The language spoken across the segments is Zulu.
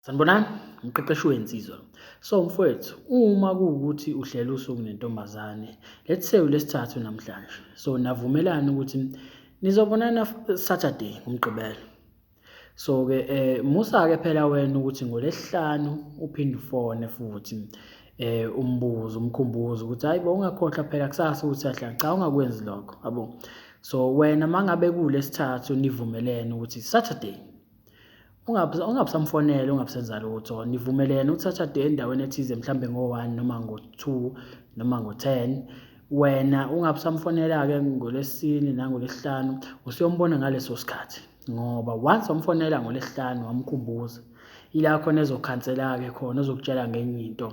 Sanibonani, umqeqeshi wensizwa. So mfowethu, uma kuwukuthi uhlela usuku nentombazane, let's say ulesithathu namhlanje. So navumelana ukuthi nizobonana Saturday ngomgqibelo. So ke eh musa ke phela wena ukuthi ngolesihlanu uphinde ufone futhi eh umbuzo umkhumbuzo ukuthi hayi bo ungakhohlwa phela kusasa ukuthi ahlanga cha ungakwenzi lokho yabo so wena mangabe kulesithathu nivumelene ukuthi Saturday Ungabusamfonela, ungabusenza lutho, nivumelene ukuthi ashade endaweni ethize mhlawumbe ngo-one noma ngo-two noma ngo-ten. Wena ungabusamfonela-ke ngoLwesine nangoLwesihlanu, usuyombona ngaleso sikhathi ngoba once wamfonela ngoLwesihlanu wamkhumbuza, ila khona ezokhansela-ke khona, ezokutshela ngenye into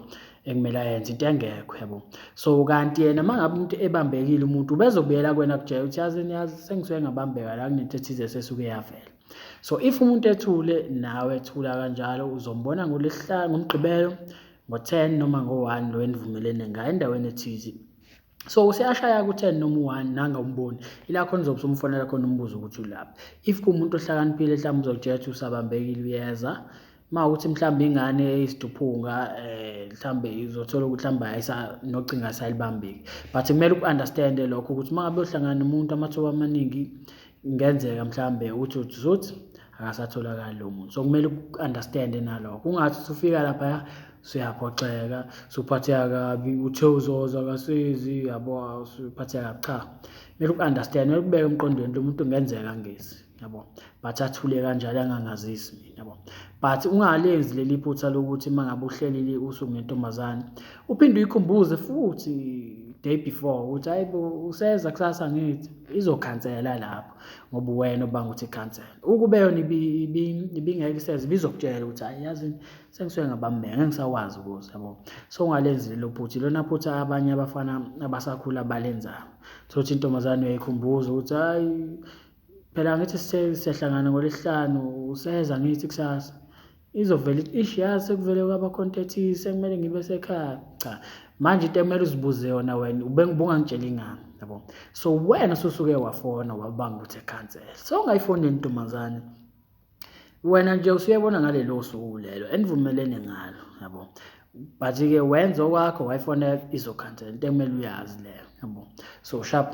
ekumele ayenze, into engekho yabo. So, kanti yena uma ngabe umuntu ebambekile umuntu, ubezobuyela kuwena akutshele ukuthi yazi, yazi sengisuke ngabambeka la kunento ethize esesuke yavela. so if umuntu ethule nawe thula kanjalo uzombona ngolesihlanu ngomgqibelo ngo-10 noma ngo-1 lo enivumelene ngayo endaweni ethize so useyashaya ku-10 noma u-1 nanga umboni ila khona uzobe usumfonela khona umbuzo ukuthi ulaphi if kuwumuntu ohlakaniphile mhlawumbe uzokutshetha usabambekile uyeza Uma ukuthi mhlawumbe ingane eyisiduphunga um mhlawumbe izothola ukuthi mhlawumbe ayisa nocinga ayisalibambeki but kumele uku-understande lokho ukuthi uma ngabe uhlangana nomuntu amathuba amaningi kungenzeka mhlawumbe uthi uthi uzothi akasatholakali lo muntu so kumele uku-understande nalokho kungathi usufika laphaya suyaphoxeka suphatheka kabi uthe uzoza kasizi yabo suphatheka kabi cha kumele uku-understande kumele kubeke emqondweni lo muntu kungenzeka ngezi yabo but athule kanjalo angangazisi mina yabo but ungalenzi leli phutha lokuthi uma ngabe uhlelile usuku nentombazane uphinde uyikhumbuze futhi day before ukuthi hayi bo useza kusasa ngithi izokhansela lapho ngoba wena obanga ukuthi cancel ukube yona ibingeke iseze bizokutshela ukuthi hayi yazi sengisuke ngabambeka ngisakwazi ukuthi yabo so ungalenzile lo phuthi lona phuthi abanye abafana abasakhula balenzayo sothi intombazane uyayikhumbuza ukuthi hayi Phela ngithi siyahlangana ngolesihlanu useza ngithi kusasa. Izovele ithi ish yazi sekuvele kwabakhontathise kumele ngibe sekhaya. Cha manje into ekumele uzibuze yona wena ubengibungangitsheli ngani yabo. So wena ususuke wafona wabanga ukuthi ecancel. So ungayifoneli ntombazane. Wena nje usuyebona ngalelo suku lelo enivumelene ngalo yabo. But ke wenza okwakho wayifonela izokhansela into ekumele uyazi leyo yabo. So sharp.